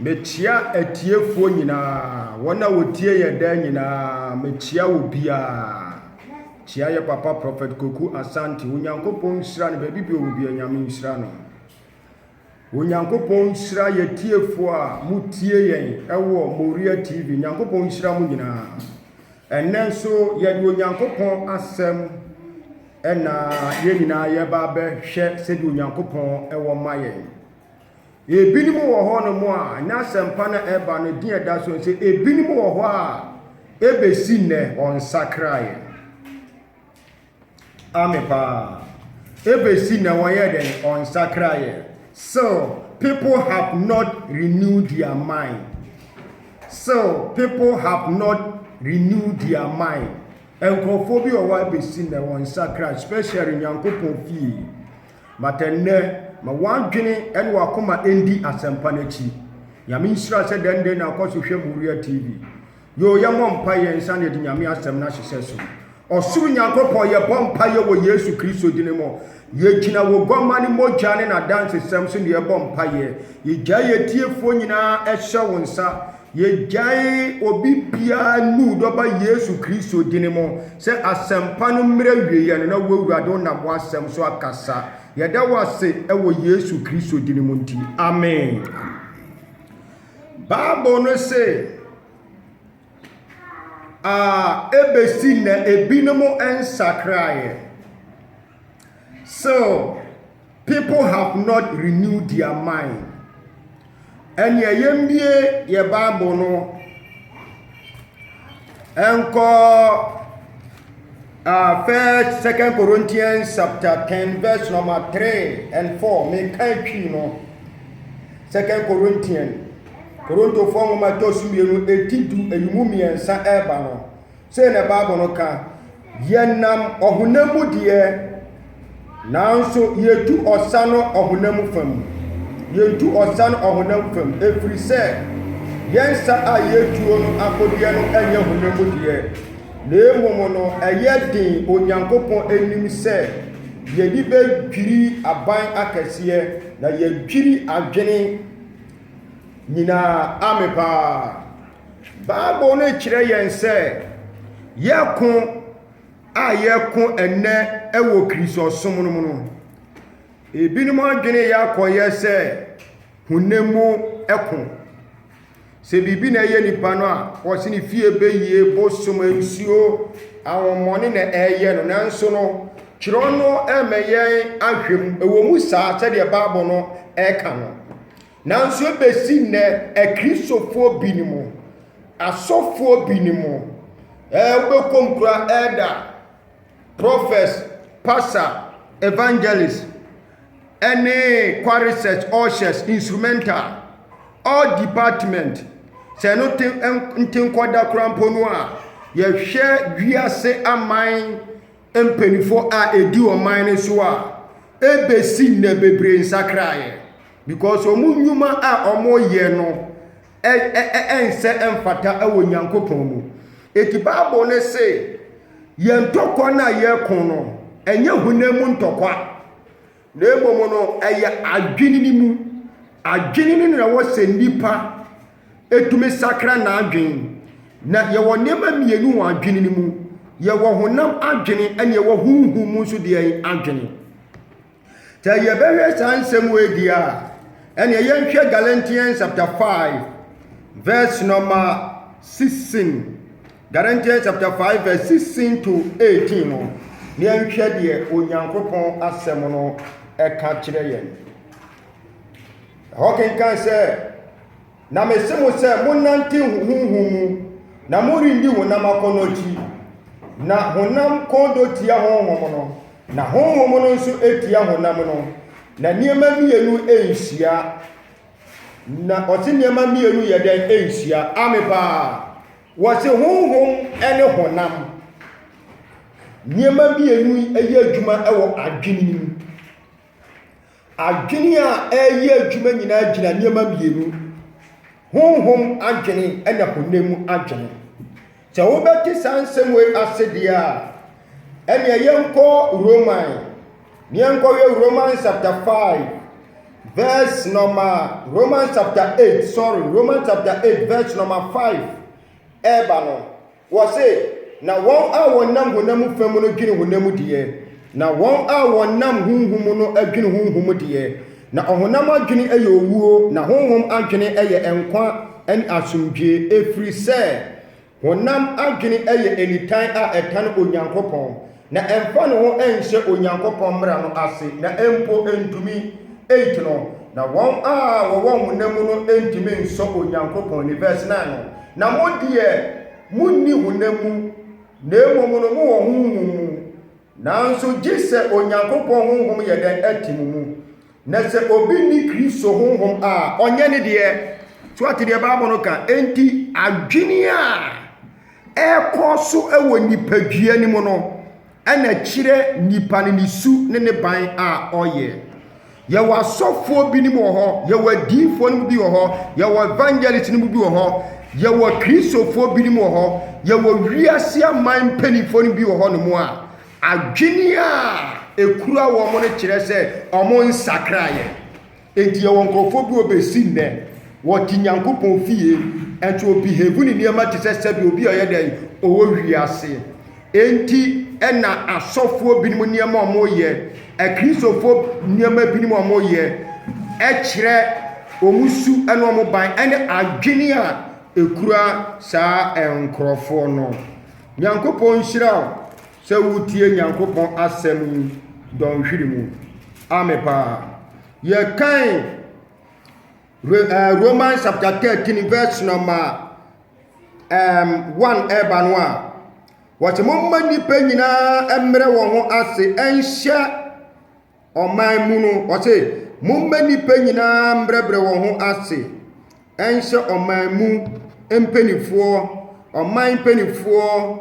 Mekyea atiefoɔ nyinaa, wɔn a wɔtie yɛn daa nyinaa, mekyea wɔ biara. Kyea yɛ papa Prɔfɛt Koku Asante, Onyankopɔn nhyira no baabi bi ɔwɔ bia Nyame nhyira no. Onyankopɔn nhyira yɛ tiefoɔ a motie yɛn ɛwɔ Moria TV, Nyankopɔn nhyira mo nyinaa. Ɛnɛ nso yɛde Onyankopɔn asɛm ɛna yɛn nyinaa yɛba abɛhwɛ sɛdeɛ Onyankopɔn ɛwɔ ma yɛn. Ebinom wɔ hɔnom a na asɛmpa no a ɛreba no din a ɛda so ne sɛ ebinom wɔ hɔ a ebesi nnɛ wɔnsakraeɛ. Ame paa. Ebesi nnɛ wɔyɛ dɛn? Wɔnsakraeɛ. Still, people have not renewed their mind. Still, people have not renewed their mind. Nkurɔfoɔ bi wɔ hɔ a ebesi nnɛ wɔnsakra, especially Nyankopɔn fie. but ɛnnɛ, ma w'adwene ne w'akoma ndi asɛmpa no akyi. Nyame nhyira sɛ dɛn dɛn na akɔ so hwɛ Moriah TV. Yoo, yɛmmɔ mpa yɛn nsa na yɛde Nyame asɛm no ahyehyɛ so. Ɔsoro Nyankopɔn, yɛbɔ mpa yɛ wɔ Yesu Kristo dini mu. Yɛgyina wo guamma no mogya ne n'adansesɛm so na yɛbɔ mpa yɛ. Yɛgyae yɛn tiefoɔ nyinaa hyɛ wo nsa. Yɛgyae obi biara nuu dɔ ba Yesu Kristo dini mo sɛ asɛmpa no mmerɛ wieɛ no na wo Awurade wo nam w'asɛm so akasa. Yɛda wo ase wɔ Yesu Kristo dini mo nti. Amen. Bible no se a ɛbɛsi na ebinom nsakraeɛ. So People have not renewed their mind. Ɛnea yɛmbie yɛ Bible no ɛnkɔ uh, First Second Corinthians chapter ten verse number three and four. Meka etwi no Second Corinthians Korintofoɔ nwoma ɛtɔ so mmienu eti du emu mmiɛnsa ɛreba no. Sei na Bible no ka, Yɛnam ɔhonam mu deɛ, nanso yɛtu ɔsa no ɔhonam mu fa mu. Yɛtu ɔsa no ɔhonam fa mu, ɛfiri sɛ yɛn nsa a yɛtuo no akodeɛ no nyɛ honam mu deɛ, na mmom no ɛyɛ den Onyankopɔn anim sɛ yɛde bɛdwiri aban akɛseɛ na yɛadwiri adwene nyinaa. Amen paa. Bible no kyerɛ yɛn sɛ yɛko a yɛko ɛnnɛ wɔ Kristosom no mu no, ebinom adwene yɛ akɔyɛ sɛ honam mu ko. Sɛ biribi na ɛyɛ nipa no a, wɔse ne fie bɛyie, bosom, nsuo, ahommɔne na ɛyɛ no. Nanso no, twerɛ no ɛmɛ yɛn ahwɛ mu. Ɛwɔ mu saa sɛdeɛ Bible no ɛka no. Nanso ebesi nnɛ, Akristofoɔ binom, asɔfoɔ binom, ɛɛ wobɛkɔm kura elder, prophets, pastor, evangelist, ɛne choir research ushers, instrumental, all department. Sɛ ɛno te nte nkɔda koraa mpo no a, yɛhwɛ wiase aman mpaninfoɔ a ɛdi ɔman no so a ɛbɛsi nnɛ bebree nsakraeɛ because wɔn nnwuma a wɔyɛ no ɛnsɛ ɛmfata wɔ nyankopɔn mu ɛti bible no se yɛn ntɔkwa no a yɛko no ɛnyɛ honam mu ntɔkwa Na mmom no, ɛyɛ adwene no mu. Adwene no na ɛwɔ sɛ nnipa tumi sakra n'adwene. Na yɛwɔ nneɛma mmienu wɔ adwene no mu. Yɛwɔ honam adwene na yɛwɔ honhom mu nso deɛ adwene. Sɛ yɛbɛhwɛ saa nsɛm wei deɛ a, ɛnneɛ yɛnhwɛ Galatians chapter 5 verse number 16. Galatians chapter five verse sixteen to eighteen no, na yɛnhwɛ deɛ Onyankopɔn asɛm no ɛka kyerɛ yɛn. Ɛhɔ kenkan sɛ, na mese mo sɛ monnante honhom mu, na morenni honam akɔnnɔ akyi. Na honam kɔndɔ tia honhom no, na honhom no nso tia honam no, na nneɛma mmienu nhyia. Na ɔte nneɛma mmienu yɛ dɛn nhyia? Ame paa. Wɔse honhom ne honam, nneɛma mmienu yi yɛ adwuma wɔ adwene no mu. Adwene a ɛreyɛ adwuma nyinaa gyina nneɛma mmienu, honhom adwene ɛna honam mu adwene. Sɛ wobɛte saa nsɛm wei ase deɛ a, ɛnneɛ yɛnkɔ Roman. Yɛnkɔhwɛ Romans chapter five verse number Romans chapter eight sorry Romans chapter eight verse number five ɛɛba no wɔse na wɔn a wɔnam honam fam no dwene honam deɛ na wɔn a wɔnam honhom no adwene honhom deɛ na ɔhonam adwene yɛ owuo na honhom adwene yɛ nkwa ne asomdwie ɛfiri sɛ Honam adwene yɛ nitan a ɛtan Onyankopɔn na ɛmfa ne ho nhyɛ Onyankopɔn mmara no ase na mpo ntumi nti no, na wɔn a wɔwɔ honam mu no ntumi nsɔ Onyankopɔn ani. Vɛs 9 no, Na mo deɛ, monni honam mu, na mmom no mowɔ Honhom mu, nanso gye sɛ Onyankopɔn Honhom yɛ dɛn? Te mo mu. Na sɛ obi nni Kristo honhom a, ɔnyɛ ne deɛ. So ate deɛ Bible no ka? Enti adwene a ɛrekɔ so wɔ nipadua no mu no, ɛna ɛkyerɛ nipa no ne su ne ne ban a ɔyɛ. Yɛwɔ asɔfoɔ binom wɔ hɔ, yɛwɔ adiyifoɔ no mu bi wɔ hɔ, yɛwɔ evangelist no mu bi wɔ hɔ, yɛwɔ Kristofoɔ binom wɔ hɔ, yɛwɔ wiase aman mpanimfoɔ no bi wɔ hɔ nom a, Adwene a ekura wɔn no kyerɛ sɛ wɔnsakra yɛn. Enti yɛwɔ nkurɔfoɔ bi wɔ bɛsi nnɛ, wɔte Nyankopɔn fie, nso wɔ behave ne nneɛma te sɛ sɛdeɛ obi a ɔyɛ dɛn, ɔwɔ wiase. Enti na asɔfoɔ binom nneɛma a wɔyɛ, Akristofoɔ nneɛma binom a wɔyɛ, ɛkyerɛ wɔn su ne wɔn ban ne adwene a ekura saa nkurɔfoɔ no. Nyankopɔn nhyira wo sɛ woretie Nyankopɔn asɛm yi dɔnhwere mu. Ame paa. Yɛkan Re- eh, Romans chapter 13 verse number um, 1 ɛreba no a, wɔte momma nnipa nyinaa mmerɛ wɔn ho ase ɛnhyɛ ɔman mu no, ɔse, Momma nnipa nyinaa mbrɛbrɛ wɔn ho ase nhyɛ ɔman mu mpanimfoɔ, ɔman mpanimfoɔ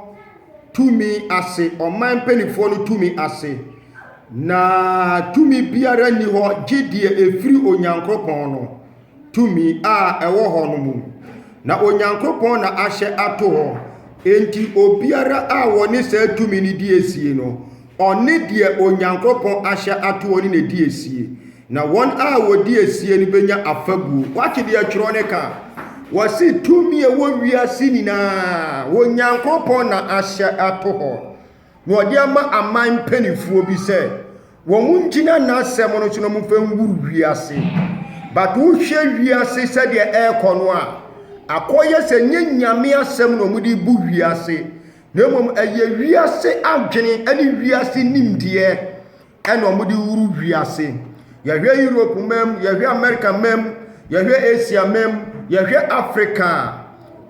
tumi ase, ɔman mpanimfoɔ no tumi ase. Na tumi biara nni hɔ gye deɛ ɛfiri Onyankopɔn no. tumi a ɛwɔ hɔ no mu. Na Onyankopɔn na ahyɛ ato hɔ. Enti obiara a wɔne saa tumi no di asie no, ɔne deɛ Onyankopɔn ahyɛ ato hɔ no na ɛdi asie. Na wɔn a wɔdi asie no bɛnya afabuo. Woate deɛ twerɛ no ka? Wɔse tumi a ɛwɔ wiase nyinaa, Onyankopɔn na ahyɛ ato hɔ. na wɔde ama aman mpanimfoɔ bi sɛ wɔn ngyina n'asɛm no so na wɔmfa ngu wiase but wohwɛ wiase sɛdeɛ ɛrekɔ no a akɔyɛ sɛ nye nyame asɛm na wɔde bu wiase na mmom ɛyɛ wiase adwene ne wiase nimdeɛ ɛna ɔmo de wuru wiase yɛhwɛ europe mmaa mu yɛhwɛ america mmaa mu yɛhwɛ asia mmaa mu yɛhwɛ africa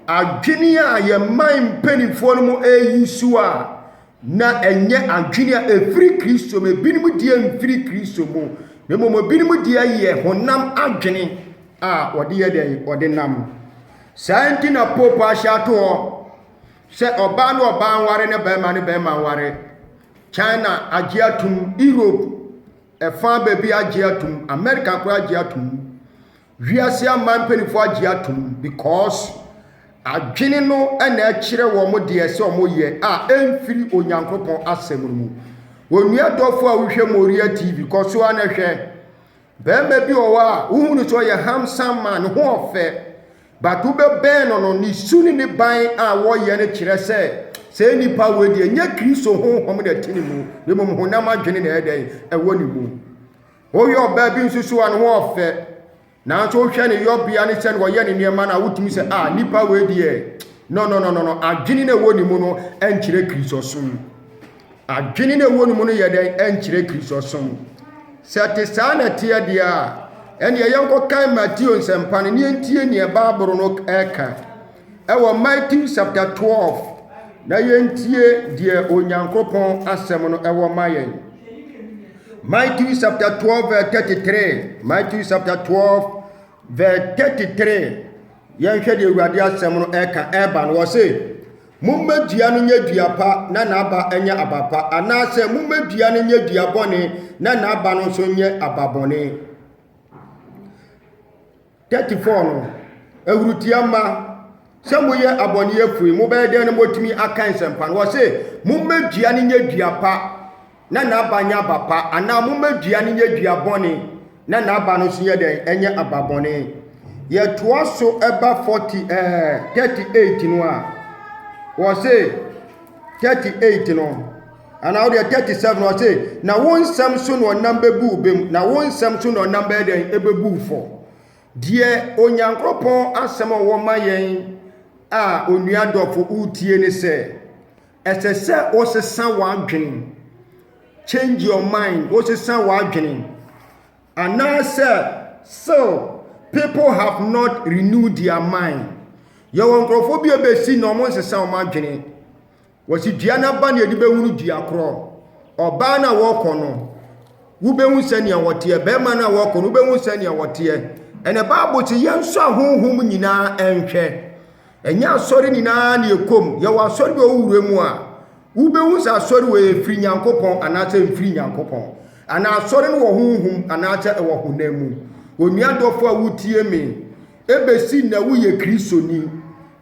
a adwene a yɛn man mpanimfoɔ no mo ɛyi so a na ɛnyɛ adwene a ɛfiri kristo mu ebinom deɛ mfiri kristo mu na mmom ebinom deɛ yɛ honam adwene a wɔde yɛ dɛn wɔde nam saa nti na pope ahyɛ ato hɔ sɛ ɔbaa ne ɔbaa nware ne bɛrima ne bɛrima nware China agye atom, Europe ɛfa baabi agye atom, America koraa agye atom. Wiase aman mpanimfoɔ agye atom because adwene no na ɛkyerɛ wɔn deɛ sɛ wɔyɛ a ɛmfiri Onyankopɔn asɛm no mu. Onua dɔfo a wohwɛ Moria TV kɔ so a na hwɛ. Barima bi wɔ hɔ a, wohu no sɛ ɔyɛ handsome man, ne ho ɔfɛ. But wobɛbɛn no no, ne su ne ne ban a wɔyɛ no kyerɛ sɛ sɛ nipa wei deɛ nyɛ Kristo honhom na ɛte ne mu, na mmom honam adwene na ɛyɛ dɛn ɛwɔ ne mu. Woyɛ ɔbaa bi nso so a, ne ho ɔfɛ. Nanso wohwɛ ne yɔbea ne sɛ na ɔyɛ ne nneɛma no a, wotumi sɛ a nipa wei deɛ no no no no no adwene na ɛwɔ ne mu no ɛnkyerɛ Kristosom. Adwene no a ɛwɔ ne mu no yɛ dɛn? Ɛnkyerɛ Kristosom. Sɛ ɛte saa na ɛteɛ deɛ a, ɛnneɛ yɛnkɔkan Mateo nsɛmpa no na yɛntie neɛ Bible no ɛka ɛwɔ Matthew chapter 12 na yɛntie deɛ Onyankopɔn asɛm no ɛwɔ ma yɛn. Matthew chapter 12 verse 33 Matthew chapter 12 verse 33 yɛnhwɛ deɛ Awurade asɛm no ɛka ɛba no wɔ se Momma dua no nyɛ dua pa na n'aba nyɛ aba pa, anaasɛ momma dua no nyɛ dua bɔne na n'aba no nso nyɛ aba bɔne. 34 no, ahurutia mma sɛ moyɛ abɔneyɛfoe, mobɛyɛ dɛn na moatumi aka nsɛmpa no? Wɔse, momma dua no nyɛ dua pa. na n'aba nyɛ aba pa, anaa momma dua no nyɛ dua bɔne, na n'aba no nso yɛ dɛn? Ɛnyɛ aba bɔne. Yɛtoa so ɛba 40 ɛɛ 38 no a, wɔse 38 no, anaa wodeɛ 37 no ɔse, na wo nsɛm so na ɔnam bɛbu bem, na wo nsɛm so na ɔnam bɛyɛ dɛn? Ɛbɛbu fɔ. Deɛ Onyankopɔn asɛm a ɔwɔ ma yɛn a onua dɔfo wotie ne sɛ, Ɛsɛ sɛ wosesa w'adwene. Change your mind. Wosesa w'adwene. Anaasɛ still people have not renewed their mind. Yɛwɔ nkurɔfoɔ bi a bɛsi na wɔn nsesa wɔn adwene. Wɔsi dua no aba na yɛde bɛhunu dua korɔ. Ɔbaa no a wɔkɔ no, wobɛhu sɛnea wɔteɛ. Bɛrima no a wɔkɔ no, wobɛhu sɛnea wɔteɛ. Ɛnɛ Bible sɛ yɛnsɔ ahonhom nyinaa nhwɛ. Ɛnyɛ asɔre nyinaa na ɛkɔ mu. Yɛwɔ asɔre bi a wowura mu a, wobɛhu sɛ asɔre wɔ yɛ firi Nyankopɔn anaasɛ mfiri Nyankopɔn. Anaa asɔre no wɔ honhom anaasɛ ɛwɔ honam mu. Onua dɔfo a wotie me, ɛbɛsi nnɛ woyɛ Kristoni.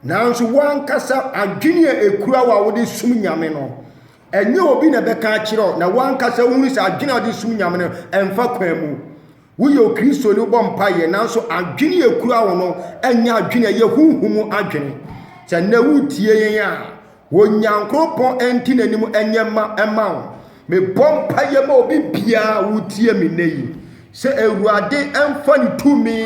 Nanso woankasa adwene a ɛkura wo a wode som Nyame no, ɛnyɛ obi na ɛbɛka akyerɛ wo na woankasa wohunu sɛ adwene a wode som Nyame no ɛmfa kwan mu. Woyɛ Okristoni, wobɔ mpaeɛ, nanso adwene a ɛkura wo no nyɛ adwene a ɛyɛ honhom mu adwene. Sɛ nnɛ wotie yɛn a, Onyankopɔn nte n'anim nyɛ mma mma wo. Mebɔ mpaeɛ ma obi biara a wotie me nnɛ yi sɛ Awurade mfa ne tumi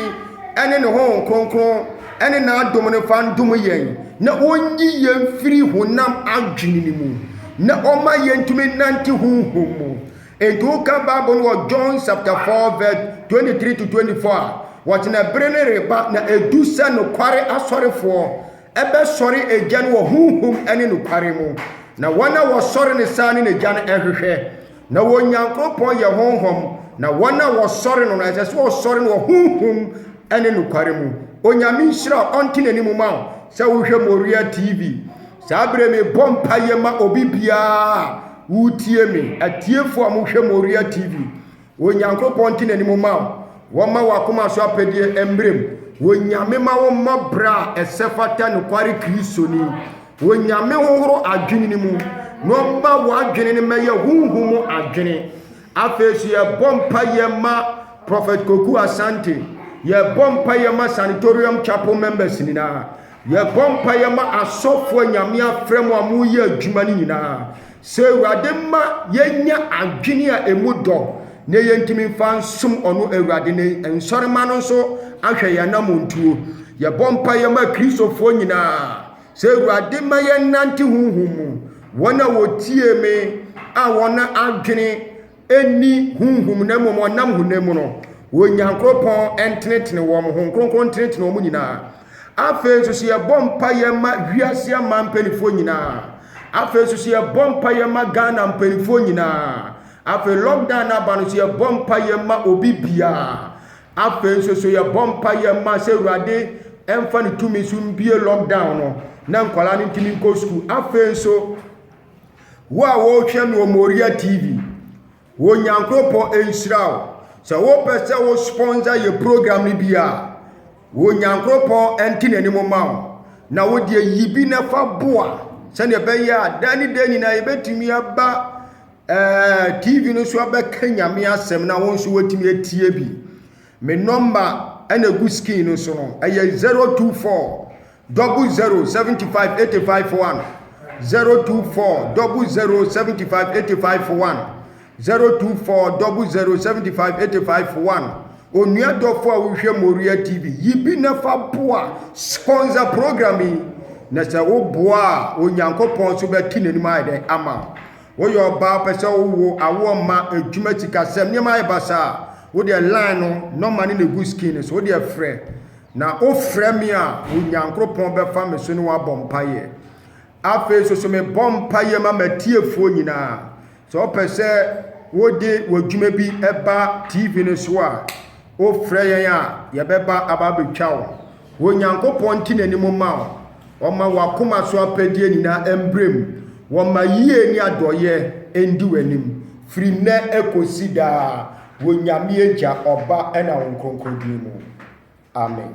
ne ne honhom kronkron ne n'adom no mfa ndom yɛn na ɔnyi yɛn mfiri honam adwene no mu na ɔma yɛntumi nnante honhom mu. Enti wokan Bible no wɔ John chapter 4 verse 23 to 24 a, wɔkyena bere no reba na edu sɛ nokware asɔrefoɔ ɛbɛsɔre agya no wɔ honhom ne nokware mu. Na wɔn a wɔsɔre no saa ne n'agya no ɛhwehwɛ. Na wɔ Nyankopɔn yɛ honhom, na wɔn a wɔsɔre no no ɛsɛ sɛ wɔsɔre no wɔ honhom ne nokware mu. Onyame nhyira wo, ɔnte n'anim ma wo sɛ wohwɛ Moriah TV. Saa bere mebɔ mpaeɛ ma obi biara Woretie me, atiefo a mohwɛ Moriah TV. Onyankopɔn nte n'anim mma wo. Wɔmma w'akoma so apɛdeɛ mmere mu. Onyame ma wo mmɔ bra a ɛsɛ fata nokware Kristoni. Onyame hohoro adwene no mu na ɔmma w'adwene no mmɛyɛ honhom mu adwene. Afei so yɛbɔ mpaeɛ ma Prophet Koku Asante. Yɛbɔ mpaeɛ ma Sanitorium Chapel members nyinaa. Yɛbɔ mpaeɛ ma asɔfoɔ a Nyame afrɛ mo a moreyɛ adwuma no nyinaa, sɛ Awurade mma yɛnya adwene a ɛmu dɔ na yɛntumi mfa nsom ɔno Awurade no nsɔre mma no nso ahwɛ yɛn anammɔntuo. Yɛbɔ mpaeɛ ma Kristofoɔ nyinaa, sɛ Awurade mma yɛnnante honhom mu, wɔn a wɔtiee me a wɔn adwene nni honhom na mmom ɔnam honam mu no, Onyankopɔn ntenetene wɔn, Honhom Kronkron ntenetene wɔn nyinaa. Afei nso so yɛbɔ mpaeɛ ma wiase ama mpanimfoɔ nyinaa. Afei nso so yɛbɔ mpaeɛ ma Ghana mpanimfoɔ nyinaa. Afei lockdown no aba no so yɛbɔ mpaeɛ ma obi biara. Afei nso so yɛbɔ mpaeɛ ma sɛ Awurade mfa ne tumi so mbie lockdown no na nkwadaa no ntumi nkɔ sukuu. Afei nso Wo a wɔhwɛ no wɔ Moriah TV, wo Nyankopɔn nhyira wo. Sɛ wopɛ sɛ wo sponsor yɛ program no bi a, wo Nyankopɔn nte n'anim ma wo. Na wo deɛ yi bi na fa boa sɛdeɛ ɛbɛyɛ a daa ne daa nyinaa yɛbɛtumi aba ɛɛ TV no so abɛka nyame asɛm na wo nso woatumi atie bi. Me nɔmba ɛna egu skin no so no ɛyɛ 024 Double zero seventy five eighty five one zero two four double zero seventy five eighty five one zero two four double zero seventy five eighty five one onua dɔfo a wohwɛ Moria TV yi bi na fa boa sponsor program yi na sɛ wo boa a Onyankopɔn so bɛte n'anim ayɛ dɛ ama wo woyɛ ɔbaa pɛ sɛ wowo awoɔ mma adwuma sikasɛm nneɛma ayɛ basaa wo deɛ line no nɔma ne na egu skin so wo deɛ frɛ Na wofrɛ me a, Onyankopɔn bɛfa me so ne wabɔ mpaeɛ. Afei nso so mebɔ mpaeɛ ma m'atiefoɔ nyinaa. Sɛ wopɛ sɛ wode w'adwuma bi ba TV no so a, wofrɛ yɛn a, yɛbɛba aba abɛtwa wo. Onyankopɔn nte n'anim ma wo. Ɔma w'akoma so apɛdeɛ nyinaa mbrɛ mu. Wɔma yie ne adɔeɛ ndi w'anim firi nnɛ kɔsi daa. Wɔ Nyame Agya, Ɔba, ɛna Wo Nkronkron Din mu. Amen.